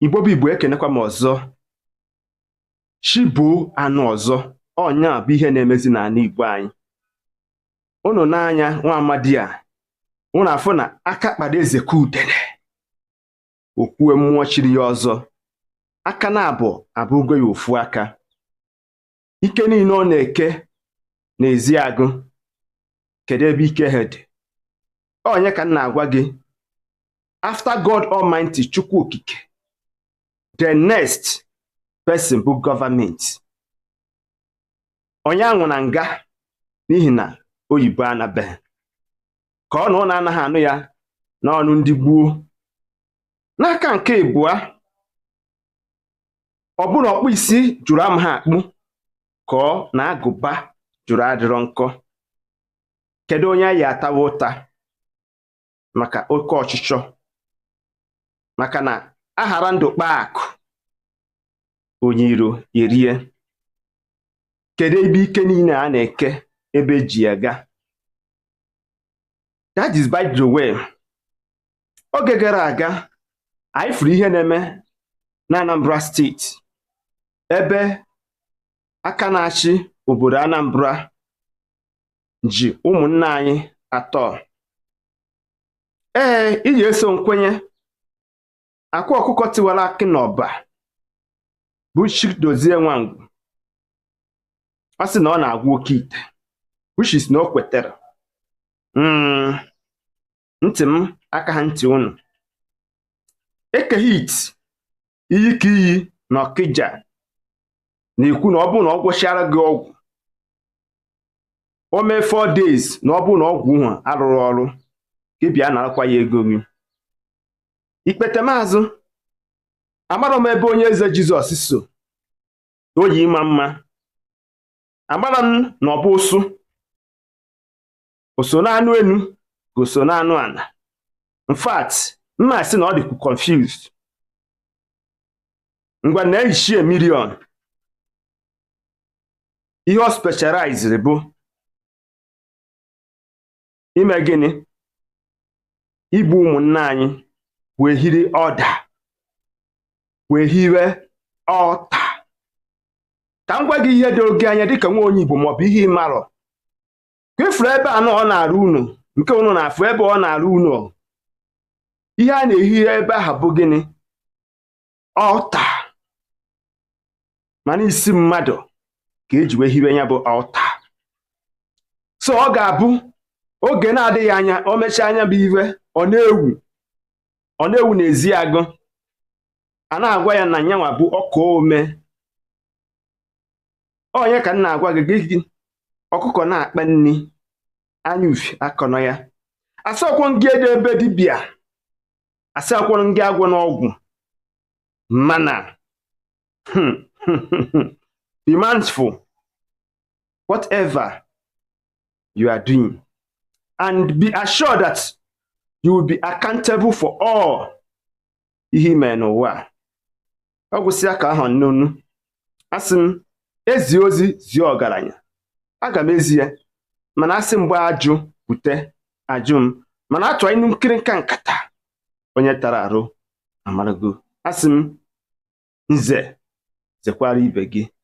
Igbo bụ Igbo ekenekwa m ọzọ chi boo anụ ọzọ ọ nya bụ ihe na-emezi n'ala Igbo anyị unu n'anya nwa amadi a unu afụ na aka kpara eze ka udene o kwue mmụọ chiri ya ọzọ aka naabọ abụgo ya ofu aka ike niile ọ na-eke n'Ezeagụ kedu ebe ike ha dị ọ nya ka m na-agwa gị after God Almighty Chukwu Okike the next person bụ government onye anwụ na nga n'ihi na oyibo anabeghị ka ọ na unu anaghị anụ ya n'ọnụ ndị gboo n'aka nke ịbụa ọ bụrụ na ọkpụ isi jụrụ amaha akpụ ka ọ na agụba jụrụ adịrọ nkọ kedu onye anyị atawa ụta maka oke ọchịchọ maka na a ghara ndụ kpaa akụ onye iro erie kedu ebe ike niile a na-eke ebe ji ya ga that is by the way oge gara aga anyị fụrụ ihe na-eme na Anambra steeti ebe aka na-achị obodo Anambra ji ụmụnna anyị atọ ee iji eso nkwenye Akwa Ọkụkọ Tiwara Akị n'Ọba bụ Chidozie Nwangwu ọ sị na ọ na-agwọ oke ite which is na o kwetere hmm. ntị m akaha ntị unu Eke Hit iyi ka iyi na Ọkịja na-ekwu na ọ bụrụ na ọ gwọchara gị ọgwụ o mee four days na ọ bụrụ na ọgwụ ahụ arụrọ ọrụ gị bịa narakwa ya ego gị ikpete m azụ amarọ m ebe Onye Eze Jizọs so o yi ịma mma amarọ m na ọ bụ ụsụ o so n'anụ enu ka o so n'anụ ana in fact m ma-asị na ọ dịkwu confused ngwa nee Ichie Million ihe ọ specialized bụ ime gịnị igbu ụmụnna anyị wee hiri ọda wee hiwe ọta ka m gwa gị ihe doo gị anya dịka nwa onye Igbo ma ọ bụ ihe ị marọ ka ị fụrụ ebe a ọ na-arụ ụnọ nke ụnụ na-afụ ebe ọ na-arụ ụnọ ihe a na-ehi ebe ahụ bụ gịnị altar mana isi mmadụ ka eji wee hiwe ya bụ altar so ọ ga-abụ oge na-adịghị anya o mechaa nya bụ ihe ọ na-ewu ọ na-ewu n'ezi agụ a na-agwa ya na nyanwa bụ ọka ome onye ka m na-agwa gị gị ọkụkọ na-akpa nri anya ufi akọnọ ya asọkwọ ngị eje be dibịa asọkwọ ngị agwọna ọgwụ mana hmm, hmm, hmm, be mindful whatever you are doing and be assured that you will be accountable for all ihe i me n'ụwa ọ gwụsịa ka ọ ha m n'ọnụ asị m ezi ozi zie ọgaranya aga m ezi ya mana asị m gbaa ajụ bute ajụ m mana atụọ inu nkịrịnka nkata onye tara arụ amarago asị m nze zekwara ibe gị